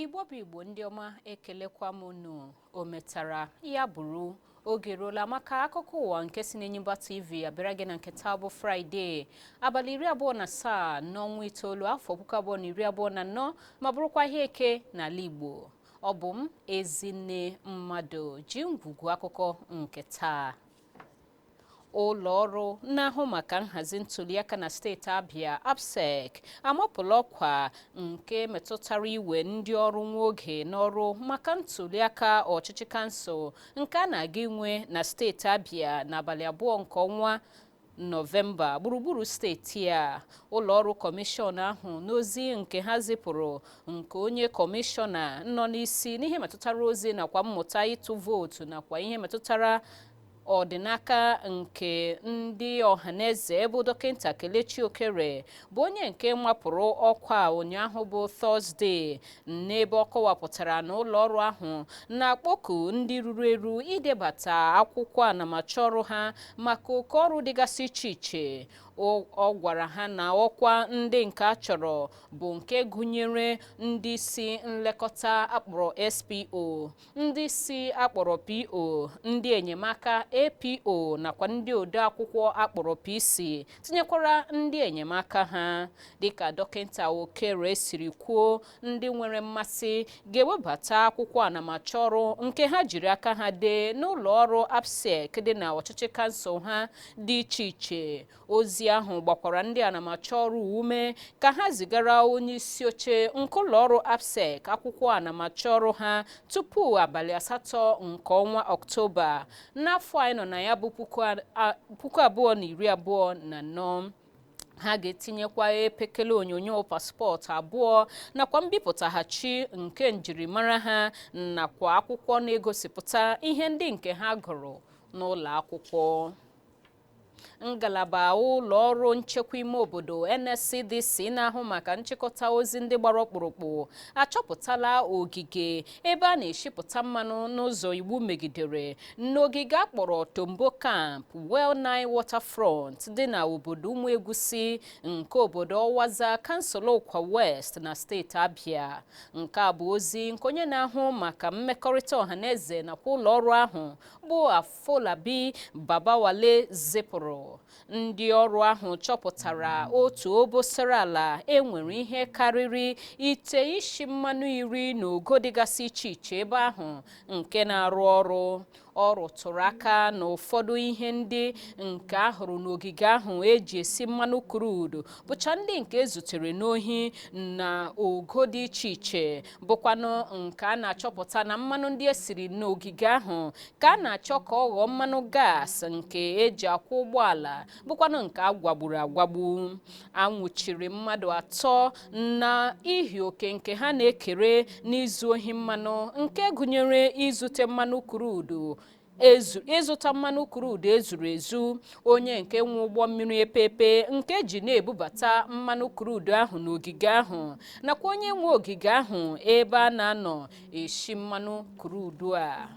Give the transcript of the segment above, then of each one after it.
igbo bụ igbo ndị ọma ekelekwa m unu o metara ya bụrụ oge eruola maka akụkọ ụwa nke si n'Enyimba TV abịara gị na nke taa bụ fraịde abalị iri abụọ na asaa n'ọnwa itoolu afọ puku abụọ na iri abụọ na anọ ma bụrụkwa ahịa eke n'ala igbo ọ bụ m ezinne mmadụ ji ngwugwu akụkọ nke taa ụlọ ọrụ na-ahụ maka nhazi ntuliaka na steeti Abia ABSIEC amapụla ọkwa nke metụtara iwe ndị ọrụ nwa oge n'ọrụ maka ntuliaka ọchịchị kansụl nke a na-aga inwe na steeti Abia n'abalị abụọ nke ọnwa nọvemba gburugburu steeti a ụlọọrụ kọmishọn ahụ n'ozi nke ha zipụrụ nke onye kọmishọna nọ n'isi n'ihe metụtara ozi nakwa mmụta ịtụ vootu nakwa ihe metụtara ọdịnaka nke ndị ọhaneze bụ dọkịnta kelechi okere bụ onye nke mapụrụ ọkwa ụnyaahụ bụ tọzde n'ebe ọ kọwapụtara na ụlọ ọrụ ahụ na-akpọku ndị ruru eru idebata akwụkwọ anamachọ ọrụ ha maka oke ọrụ dịgasị iche iche ọ gwara ha na ọkwa ndị nke a chọrọ bụ nke gụnyere ndị isi nlekọta a kpọrọ SPO, ndị isi a kpọrọ PO, ndị enyemaka APO nakwa ndị odeakwụkwọ a kpọrọ PC tinyekwara ndị enyemaka ha. Dịka dọkịnta Okere siri kwuo, ndị nwere mmasị ga-ewebata akwụkwọ anamachọ ọrụ nke ha jiri aka ha dee n'ụlọ ọrụ ABSIEC dị na ọchịchị kansụl ha dị iche iche ozi ahụ gbakwara ndị anamachọ ọrụ ume ka ha zigara onye isi oche nke ụlọọrụ ABSIEC akwụkwọ anamachọ ọrụ ha tupu abalị asatọ nke ọnwa ọktoba n'afọ anyị nọ na ya bụ puku abụọ na iri abụọ na anọ ha ga-etinyekwa epekele onyonyo paspọtụ abụọ nakwa mbipụtaghachi nke njirimara ha nakwa akwụkwọ na-egosipụta ihe ndị nke ha gụrụ n'ụlọ akwụkwọ ngalaba ụlọ ọrụ nchekwa ime obodo NSCDC na-ahụ maka nchịkọta ozi ndị gbara ọkpụrụkpụ achọpụtala ogige ebe a na-eshipụta mmanụ n'ụzọ iwu megidere n'ogige a kpọrọ Tombo Camp Well Nine Waterfront dị na obodo Ụmụegwusi nke obodo Ọwaza kansụl Ụkwa West na steeti Abia nke a bụ ozi nke onye na-ahụ maka mmekọrịta ọhaneze nakwa ụlọ ọrụ ahụ bụ Afolabi Babawale zipụrụ ndị ọrụ ahụ chọpụtara otu obosara ala e nwere ihe karịrị ite isi mmanụ iri na ogo dịgasị iche iche ebe ahụ nke na-arụ ọrụ ọ rụtụrụ aka na ụfọdụ ihe ndị nke a hụrụ n'ogige ahụ e ji esi mmanụ crude bụcha ndị nke e zutere n'ohi na ogo dị iche iche bụkwanụ nke a na-achọpụta na mmanụ ndị e siri n'ogige ahụ ka a na-achọ ka ọ ghọọ mmanụ gas nke eji akwụ ụgbọala bụkwanụ nke a gwagburu agwagbu a nwụchiri mmadụ atọ na ihi oke nke ha na-ekere n'izu ohi mmanụ nke gụnyere izute mmanụ krud ịzụta mmanụ krud ezuru ezu onye nke nwe ụgbọ mmiri epepe nke ji na-ebubata mmanụ krud ahụ n'ogige ahụ nakwa onye nwe ogige ahụ ebe a na-anọ eshi mmanụ krud a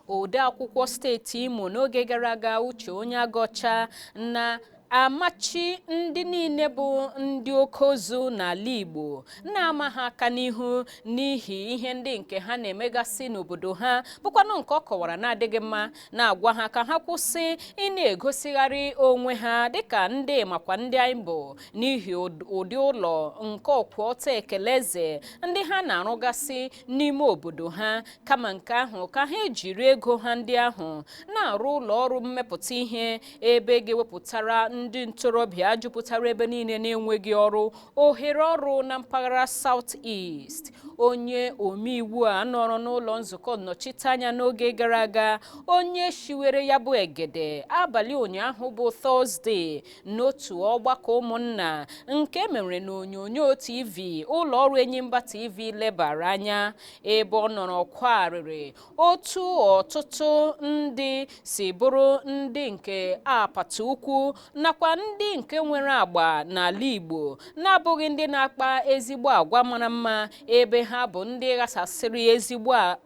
ode akwụkwọ steeti imo n'oge gara aga uche onyeagọcha na Amachi ndị niile bụ ndị oke ozu n'ala Igbo na-ama ha aka n'ihu n'ihi ihe ndị nke ha na-emegasị n'obodo ha bụkwanụ nke ọ kọwara na-adịghị mma na-agwa ha ka ha kwụsị ị na-egosigharị onwe ha dịka ndị makwa ndị anyị bụ n'ihi ụdị ụlọ nke ọkwụ ọtọ ekele eze ndị ha na-arụgasị n'ime obodo ha kama nke ahụ ka ha ejiri ego ha ndị ahụ na-arụ ụlọ ọrụ mmepụta ihe ebe ga-ewepụtara ndị ntorobịa jupụtara ebe niile na-enweghị ọrụ ohere ọrụ na mpaghara South East onye omeiwu a nọrọ n'ụlọ nzukọ nnọchiteanya n'oge gara aga onye shiwere ya bụ egede abalị ụnyaahụ bụ tọzde n'otu ọgbakọ ụmụnna nke mere n'onyonyo tv ụlọ ọrụ enyimba tv lebara anya ebe ọ nọrọ kwaa arịrị otu ọtụtụ ndị si bụrụ ndị nke apata ukwu nakwa ndị nke nwere agba n'ala Igbo na-abụghị ndị na-akpa ezigbo agwa mara mma ebe ha bụ ndị ghasasịrị ezigbo a-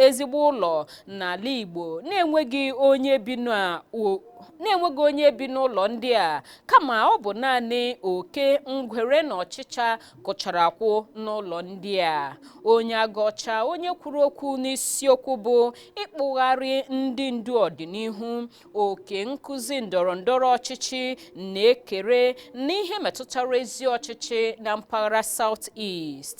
ezigbo ụlọ n'ala Igbo na-enweghị onye bi na o- na-enweghị onye bi n'ụlọ ndị a kama ọ bụ naanị oke ngwere na ọchịcha kụchara akwụ n'ụlọ ndị a onyeagọcha onye kwuru okwu n'isiokwu bụ ịkpụgharị ndị ndu ọdịnihu oke nkụzi ndọrọ ndọrọ ọchịchị na-ekere n'ihe metụtara ezi ọchịchị na mpaghara South East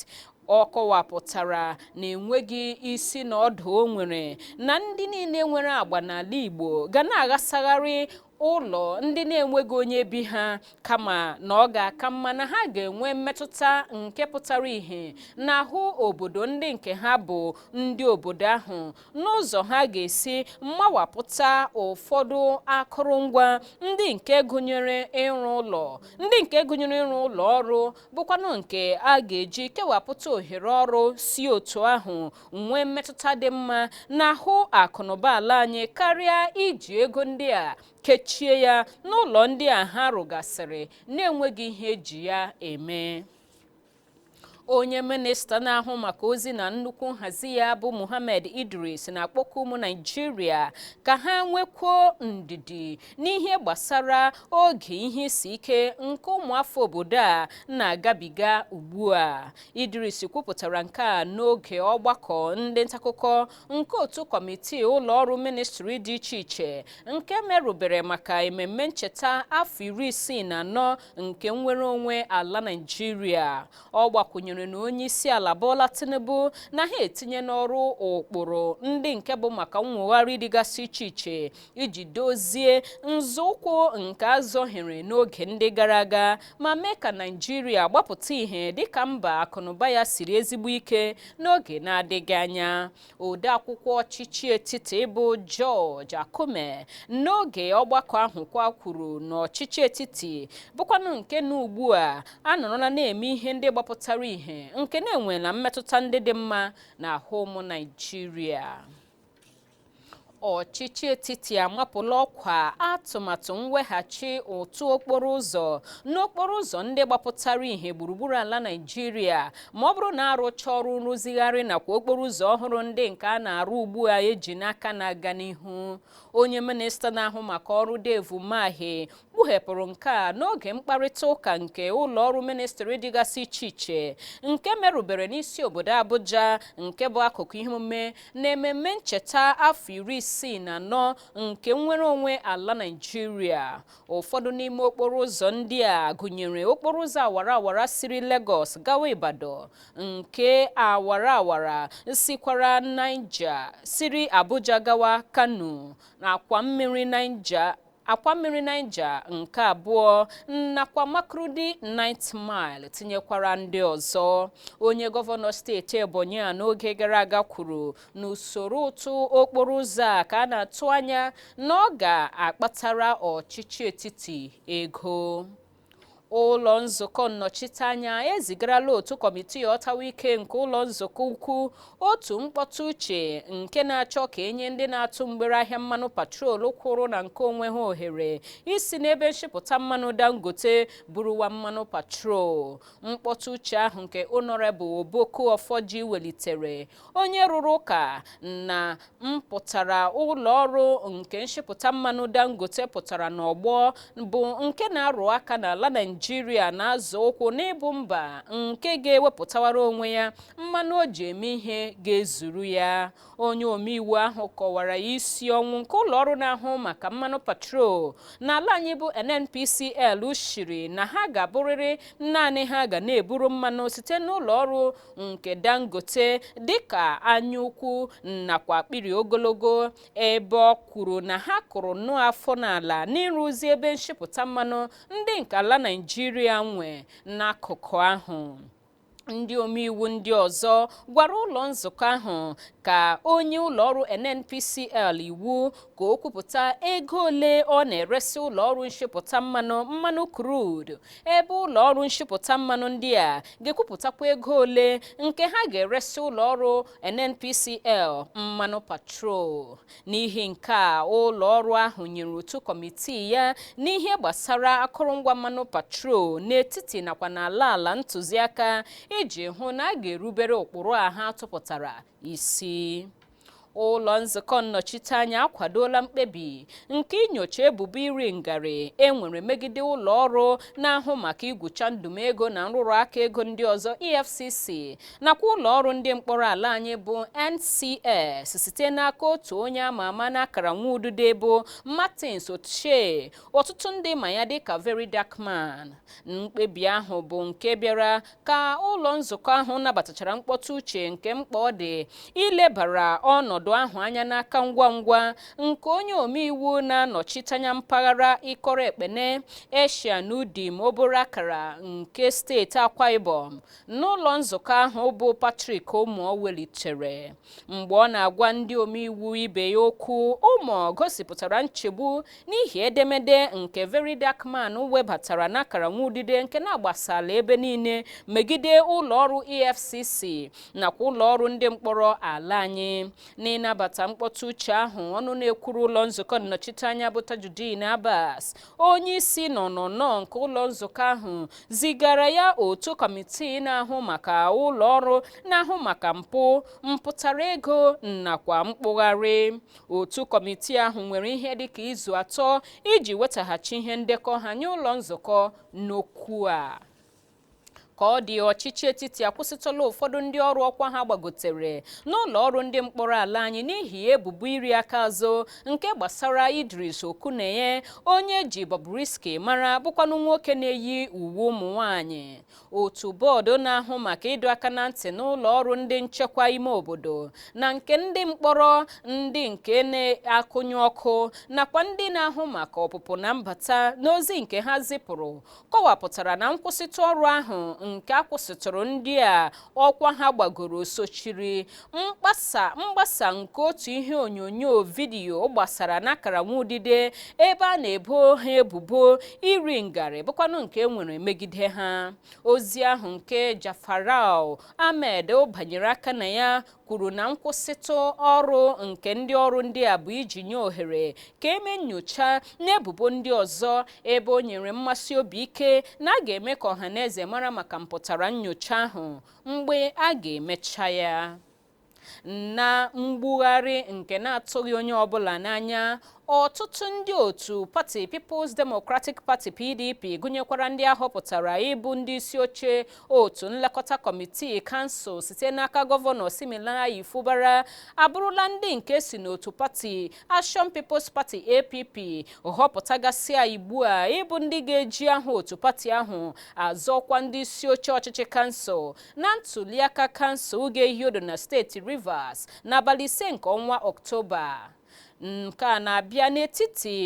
ọ kọwapụtara na enweghị isi na ọdụ o nwere na ndị niile nwere agba n'ala Igbo ga na-aghasagharị ụlọ ndị na-enweghị onye bi ha kama na ọ ga-aka mma na ha ga-enwe mmetụta nke pụtara ìhè n'ahụ obodo ndị nke ha bụ ndị obodo ahụ n'ụzọ ha ga-esi mmawapụta ụfọdụ akụrụngwa ndị nke gụnyere ịrụ ụlọ ndị nke gụnyere ịrụ ụlọ ọrụ bụkwanụ nke a ga-eji kewapụta ohere ọrụ si otu ahụ nwee mmetụta dị mma n'ahụ akụnụba ala anyị karịa iji ego ndị a kechie ya n'ụlọ ndị a ha rụgasịrị na-enweghị ihe eji ya eme onye minista na-ahụ maka ozi na nnukwu nhazi ya bụ Mohammed Idris na-akpọku ụmụ Naijiria ka ha nwekwuo ndidi n'ihe gbasara oge ihe isi ike nke ụmụafọ obodo a na-agabiga ugbu a Idris kwupụtara nke a n'oge ọgbakọ ndị ntaakụkọ nke otu kọmitii ụlọ ọrụ ministri dị iche iche nke merụbere maka ememme ncheta afọ iri isii na anọ nke nnwere onwe ala Naịjirịa. Ọ gbakwụnyere na onye isi ala Bola Tinubu na ha etinye n'ọrụ ụkpụrụ ndị nke bụ maka nnwogharị dịgasị iche iche iji dozie nzọụkwụ nke azọhiere n'oge ndị gara aga ma mee ka Naijiria gbapụta ihe dịka mba akụnụba ya siri ezigbo ike n'oge na-adịghị anya odeakwụkwọ ọchịchị etiti bụ George Akume n'oge ọgbakọ ahụ kwa kwuru na ọchịchị etiti bụkwanụ nke na ugbu a anọrọla na-eme ihe ndị gbapụtara ihe nke na-enwela mmetụta ndị dị mma n'ahụ ụmụ Naijiria ọchịchị etiti amapụla ọkwa atụmatụ mweghachi ụtụ okporo ụzọ n'okporo ụzọ ndị gbapụtara ihe gburugburu ala Naịjirịa ma ọ bụrụ na arụcha ọrụ nrụzigharị nakwa okporo ụzọ ọhụrụ ndị nke a na-arụ ugbu a eji n'aka na-aga n'ihu onye minista na-ahụ maka ọrụ Dave Umahi kpughepụrụ nke a n'oge mkparịta ụka nke ụlọ ọrụ ministri dịgasị iche iche nke merụbere n'isi obodo Abuja nke bụ akụkụ ihe omume na ememme ncheta afọ iri isii na anọ nke nnwere onwe ala Naịjirịa ụfọdụ n'ime okporo ụzọ ndị a gụnyere okporo ụzọ awara awara siri Lagos gawa Ibadan nke awara awara sikwara Niger siri Abuja gawa Kano na akwa mmiri Niger akwa mmiri Niger nke abụọ nakwa Makurdi Ninth Mile tinyekwara ndị ọzọ. Onye gọvanọ steeti Ebonyi a n'oge gara aga kwuru na usoro ụtụ okporo ụzọ a ka a na-atụ anya na ọ ga-akpatara ọchịchị etiti ego. ụlọ nzukọ nnọchiteanya ezigarala otu kọmitii ọtawa ike nke ụlọ nzukọ ukwu otu mkpọtụ uche nke na-achọ ka enye ndị na-atụ mgbere ahịa mmanụ petrol kwụrụ na nke onwe ha ohere isi n'ebe nshipụta mmanụ dangote buruwa mmanụ petrol mkpọtụ uche ahụ nke honorable Oboku Oforji welitere onye rụrụ ụka na mpụtara ụlọ ọrụ nke nshipụta mmanụ dangote pụtara n'ọgbọ bụ nke na-arụ aka na ala naijiria na-azọ ụkwụ n'ịbụ mba nke ga-ewepụtawara onwe ya mmanụ o ji eme ihe ga-ezuru ya onye omeiwu ahụ kọwara isi ọnwụ nke ụlọ ọrụ na-ahụ maka mmanụ petrol n'ala anyị bụ nnpcl shiri na ha ga-abụrịrị naanị ha ga na-eburu mmanụ site n'ụlọ ọrụ nke Dangote dịka anyaukwu nakwa akpịrị ogologo ebe o kwuru na ha kụrụ nnọọ afọ n'ala n'ịrụzi ebe nshipụta mmanụ ndị nke ala Naịjirịa nwe n'akụkụ ahụ ndị omeiwu ndị ọzọ gwara ụlọ nzukọ ahụ ka o nye ụlọọrụ NNPCL iwu ka o kwupụta ego ole ọ na-eresị ụlọọrụ nshipụta mmanụ mmanụ crude ebe ụlọ ọrụ nshipụta mmanụ ndị a ga-ekwupụtakwa ego ole nke ha ga-eresị ụlọ ọrụ NNPCL mmanụ petrol n'ihi nke a ụlọ ọrụ ahụ nyere otu kọmitii ya n'ihe gbasara akụrụngwa mmanụ petrol n'etiti nakwa n'ala ala ntụziaka iji hụ na a ga-erubere ụkpụrụ a ha tụpụtara isi ụlọ nzukọ nnọchiteanya akwadola mkpebi nke inyocha ebubo iri ngarị e nwere megide ụlọ ọrụ na-ahụ maka igwucha ndụm ego na nrụrụ aka ego ndị ọzọ EFCC nakwa ụlọ ọrụ ndị mkpọrọ ala anyị bụ NCS site n'aka otu onye ama ama n'akara nwa udude bụ Martins Otse ọtụtụ ndị ma ya dịka Very Dark Man mkpebi ahụ bụ nke bịara ka ụlọ nzukọ ahụ nabatachara mkpọtụ uche nke mkpa ọ dị ilebara ọnọdụ ahụ anya n'aka ngwa ngwa nke onye omeiwu na-anọchite anya mpaghara ikot ekpene essien udim obot akara nke steeti akwa ibom n'ụlọ nzukọ ahụ bụ patrick umoh welitere mgbe ọ na-agwa ndị omeiwu ibe ya okwu umoh gosipụtara nchegbu N'ihi edemede nke Very Dark Man webatara n'akara nwaudide nke na-agbasala ebe niile megide ụlọọrụ EFCC nakwa ụlọọrụ ndị mkpọrọ ala anyị. N'ịnabata mkpọtụ uche ahụ, ọnụ na-ekwuru ụlọ nzukọ nnọchiteanya bụ Tajudeen Abbas, onyeisi n'ọnụnọ nke ụlọ nzukọ ahụ, zigara ya otu kọmitii na-ahụ maka ụlọọrụ na-ahụ maka mpụ metụtara ego nakwa mkpụgharị. Otu kọmitii ahụ nwere ihe dị ka izu atọ iji wetaghachi ihe ndekọ ha nye ụlọ nzukọ n'okwu a. Ka ọ dị ọchịchị etiti akwụsịtụla ụfọdụ ndị ọrụ ọkwa ha gbagotere n'ụlọ ọrụ ndị mkpọrọ ala anyị n'ihi ebubo iri aka azụ nke gbasara Idris Okuneye onye e ji Bobrisky mara bụkwanụ nwoke na-eyi uwe ụmụ nwaanyị. otu bọọdụ na-ahụ maka ịdọ aka na ntị n'ụlọ ọrụ ndị nchekwa ime obodo na nke ndị mkpọrọ ndị nke na-akụnyụ ọkụ nakwa ndị na-ahụ maka ọpụpụ na mbata n'ozi nke ha zipụrụ kọwapụtara na nkwụsịtụ ọrụ ahụ nke a kwụsịtụrụ ndị a ọkwa ha gbagoro sochiri mgbasa nke otu ihe onyonyo vidiyo gbasara n'akara nwa udide ebe a na-ebo ha ebubo iri ngarị bụkwanụ nke e nwere megide ha ozi ahụ nke Ja'afaru Ahmed banyere aka na ya kwuru na nkwụsịtụ ọrụ nke ndị ọrụ ndị a bụ iji nye ohere ka e mee nnyocha n'ebubo ndị ọzọ ebe o nyere mmesi obi ike na a ga-eme ka ọha na eze mara maka mpụtara nnyocha ahụ mgbe a ga-emecha ya na mgbugharị nke na-atụghị onye ọbụla n'anya ọtụtụ ndị otu pati People's Democratic Party PDP gụnyekwara ndị a họpụtara ịbụ ndị isi oche otu nlekọta kọmitii kansụl site n'aka gọvanọ Siminalayi Fubara abụrụla ndị nke si n'otu pati Action People's Party APP họpụtagasịa ugbu a ịbụ ndị ga-eji aha otu pati ahụ azọ ọkwa ndị isi oche ọchịchị kansụl na ntuliaka kansụl ga-ehi odo na steeti Rivers n'abalị ise nke ọnwa Ọktoba nke a na-abịa n'etiti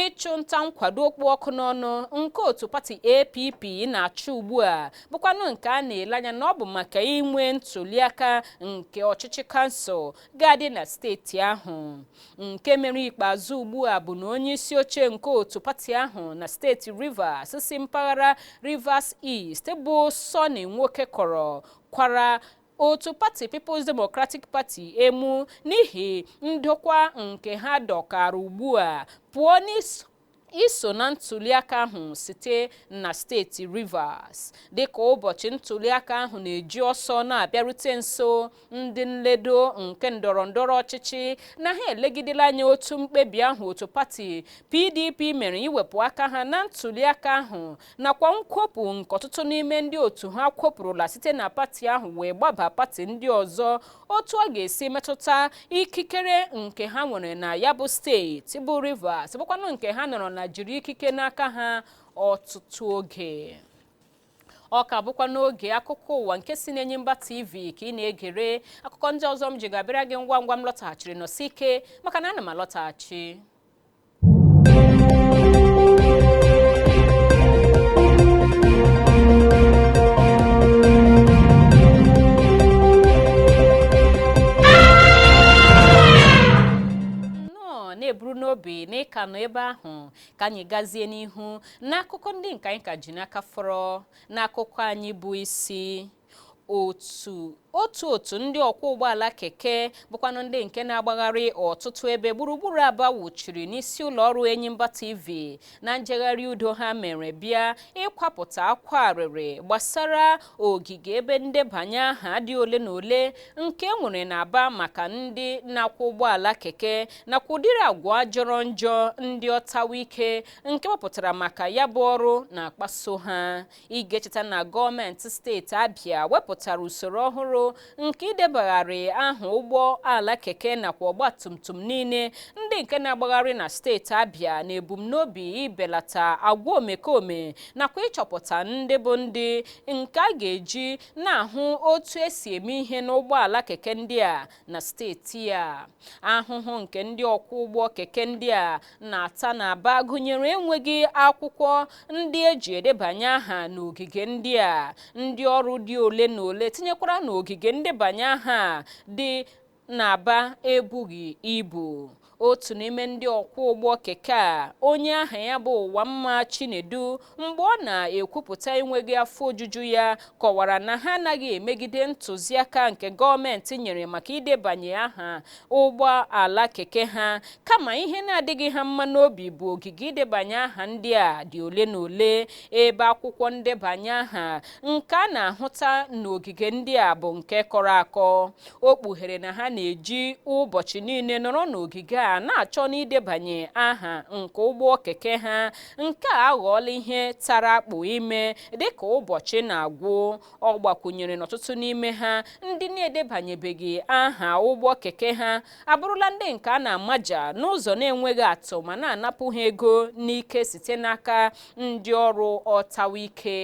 ịchụ nta nkwado ọkpụ ọkụ n'ọnụ nke otu pati APP na-achụ ugbu a bụkwanụ nke a na-ele anya na ọ bụ maka inwe ntuliaka nke ọchịchị kansụl ga-adị na steeti ahụ nke mere ikpeazụ ugbu a bụ na onye isi oche nke otu pati ahụ na steeti Rivers si mpaghara Rivers East bụ Sunny Wokekoro kwara otu pati People's Democratic Party emu n'ihi ndọka nke ha dọkara ugbu a pụọ n'isi iso na ntuliaka ahụ site na steeti Rivers. Dịka ụbọchị ntuliaka ahụ na-eji ọsọ na-abịarute nso, ndị nledo nke ndọrọndọrọ ọchịchị na ha elegidela anya otu mkpebi ahụ otu pati PDP mere iwepụ aka ha na ntuliaka ahụ nakwa nkwopụ nke ọtụtụ n'ime ndị otu ha kwopụrụla site na pati ahụ wee gbaba pati ndị ọzọ otu ọ ga-esi metụta ikikere nke ha nwere na ya bụ steeti bụ Rivers bụkwanụ nke ha nọrọ na jiri ikike n'aka ha ọtụtụ oge ọ ka bụkwa n'oge akụkọ ụwa nke si n'Enyimba TV ka ị na-egere akụkọ ndị ọzọ m ji ga-abịara gị ngwa ngwa m lọtaghachiri nọsi ike maka na ana m alọtaghachi na-eburu n'obi na ị ka nọ ebe ahụ ka anyị gazie n'ihu n'akụkọ ndị nke anyị ka ji n'aka fọrọ n'akụkọ anyị bụ isi otu otu otu ndị ọkwọ ụgbọala keke bụkwanụ ndị nke na-agbagharị ọtụtụ ebe gburugburu Aba wụchiri n'isi ụlọ ọrụ Enyimba TV na njegharị udo ha mere bịa ịkwapụta akwa arịrị gbasara ogige ebe ndebanye aha dị ole na ole nke e nwere n'Aba maka ndị na-akwọ ụgbọala keke nakwa ụdịrị agwa jọrọ njọ ndị ọtawa ike nke e wepụtara maka ya bụ ọrụ na-akpaso ha Ị ga-echeta na gọọmenti steeti Abia wepụtara usoro ọhụrụ nke idebagharị aha ụgbọ ala keke nakwa ọgbatumtum niile ndị nke na-agbagharị na steeti Abia n'ebumnobi ibelata agwa omekome nakwa ịchọpụta ndị bụ ndị nke a ga-eji na-ahụ otu esi eme ihe n'ụgbọala keke ndị a na steeti a ahụhụ nke ndị ọkwọ ụgbọ keke ndị a na-ata n'Aba gụnyere enweghị akwụkwọ ndị eji edebanye aha n'ogige ndị a ndị ọrụ dị ole na ole tinyekwara na ogige ndebanye aha dị n'Aba ebughị ibu otu n'ime ndị ọkwọ ụgbọ keke a onye aha ya bụ Ụwamma Chinedu mgbe ọ na-ekwupụta enweghị afọ ojuju ya kọwara na ha anaghị emegide ntụziaka nke gọọmenti nyere maka idebanye aha ụgbọ ala keke ha kama ihe na-adịghị ha mma n'obi bụ ogige idebanye aha ndị a dị ole na ole ebe akwụkwọ ndebanye aha nke a na-ahụta n'ogige ndị a bụ nke kọrọ akọ o kpughere na ha na-eji ụbọchị niile nọrọ n'ogige a na-achọ n'idebanye aha nke ụgbọ keke ha nke a aghọọla ihe tara akpụ ime dịka ụbọchị na-agwụ ọ gbakwunyere na ọtụtụ n'ime ha ndị na-edebanyebeghị aha ụgbọ keke ha abụrụla ndị nke a na-amaja n'ụzọ na-enweghị atụ ma na-anapụ ha ego n'ike site n'aka ndị ọrụ ọtawa ike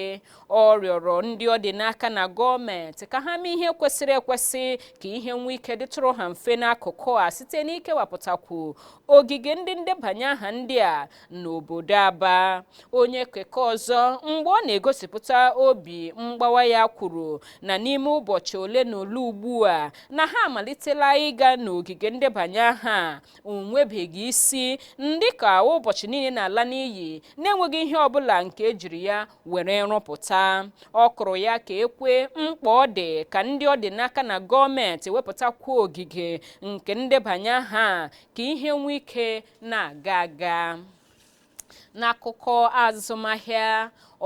ọ rịọrọ ndị ọ dị n'aka na gọọmenti ka ha mee ihe kwesịrị ekwesị ka ihe nwee ike dịtụrụ ha mfe n'akụkụ a site n'ikewapụtakwu ogige ndị ndebanye aha ndị a n'obodo Aba onye keke ọzọ mgbe ọ na-egosipụta obi mgbawa ya kwuru na n'ime ụbọchị ole na ole ugbu a na ha amalitela ịga n'ogige ndebanye aha o nwebeghị isi dịka ụbọchị niile na-ala n'iyi na-enweghị ihe ọbụla nke e jiri ya were rụpụta ọ kụrụ ya ka ekwe mkpa ọ dị ka ndị ọ dị n'aka na gọọmenti wepụtakwuo ogige nke ndebanye aha ka ihe nwee ike na-aga aga n'akụkọ azụmahịa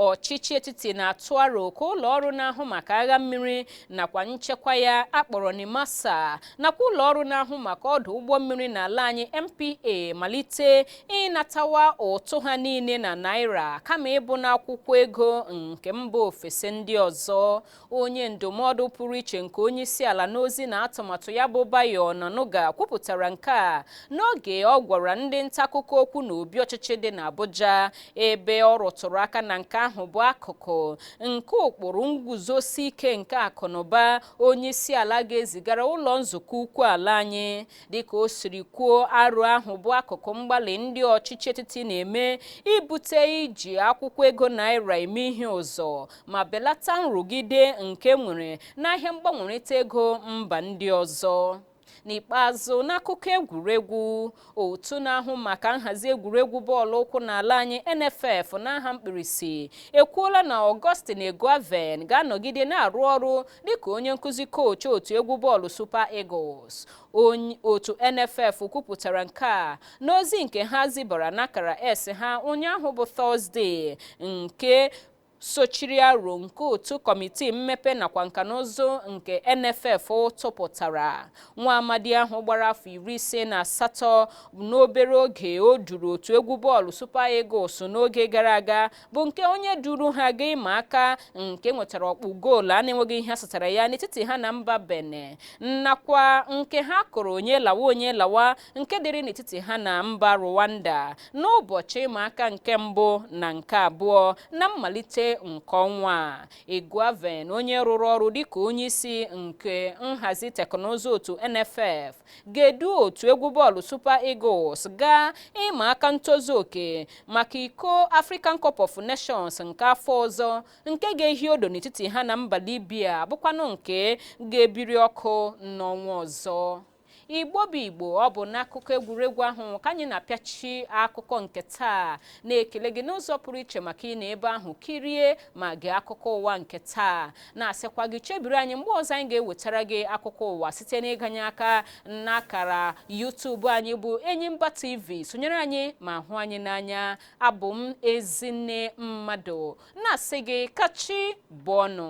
ọchịchị etiti na-atụ aro ka ụlọ ọrụ na-ahụ maka agha mmiri nakwa nchekwa ya a kpọrọ NIMASA nakwa ụlọ ọrụ na-ahụ maka ọdụ ụgbọ mmiri n'ala anyị NPA malite ịnatawa ụtụ ha niile na naira kama ịbụ n'akwụkwọ ego nke mba ofesi ndị ọzọ onye ndụmọdụ pụrụ iche nke onye isi ala n'ozi na atụmatụ ya bụ Bayo Onanuga kwupụtara nke a n'oge ọ gwara ndị nta akụkọ okwu n'obi ọchịchị dị n'Abuja ebe ọ rụtụrụ aka na nke ahụ bụ akụkụ nke ụkpụrụ nguzosi ike nke akụnụba onye isi ala ga-ezigara ụlọ nzukọ ukwu ala anyị dịka o siri kwuo aro ahụ bụ akụkụ mgbalị ndị ọchịchị etiti na-eme ibute iji akwụkwọ ego naira eme ihe ụzọ ma belata nrụgide nke e nwere n'ahịa mgbanwerịta ego mba ndị ọzọ n'ikpeazụ n'akụkọ egwuregwu otu na-ahụ maka nhazi egwuregwu bọọlụ ụkwụ n'ala anyị NFF n'aha mkpirisi ekwuola na Augustine Eguavoen ga-anọgide na-arụ ọrụ dịka onye nkuzi koochi otu egwu bọọlụ Super Eagles otu NFF kwupụtara nke a n'ozi nke ha zibara n'akara X ha ụnyaahụ bụ Tọzdee nke sochiri aro nke otu kọmitii mmepe nakwa nka na ụzụ nke NFF tụpụtara nwa amadi ahụ gbara afọ iri ise na asatọ n'obere oge o duru otu egwu bọọlụ Super Eagles n'oge gara aga bụ nke onye duru ha gaa ịma aka nke nwetara ọkpụ goolu a na-enweghị ihe a satara ya n'etiti ha na mba Benin nakwa nke ha kụrụ onye lawa onye lawa nke dịrị n'etiti ha na mba Rwanda n'ụbọchị ịma aka nke mbụ na nke abụọ na mmalite nke ọnwa a Eguavoen onye rụrụ ọrụ dịka onye isi nke nhazi teknụzụ otu NFF ga-edu otu egwu bọọlụ Super Eagles gaa ịma aka ntozu oke maka iko African Cup of Nations nke afọ ọzọ nke ga-ehi odo n'etiti ha na mba Libya bụkwanụ nke ga-ebiri ọkụ n'ọnwa ọzọ Igbo bụ Igbo ọ bụ n'akụkọ egwuregwu ahụ ka anyị na-apịachi akụkọ nke taa na-ekele gị n'ụzọ pụrụ iche maka ịnọ ebe ahụ kirie ma gee akụkọ ụwa nke taa na-asịkwa gị chebiri anyị mgbe ọzọ anyị ga-ewetara gị akụkọ ụwa site n'ịganye aka n'akara YouTube anyị bụ Enyimba TV sonyere anyị ma hụ anyị n'anya abụ m Ezinne Mmadụ na-asị gị ka chi bọọ nụ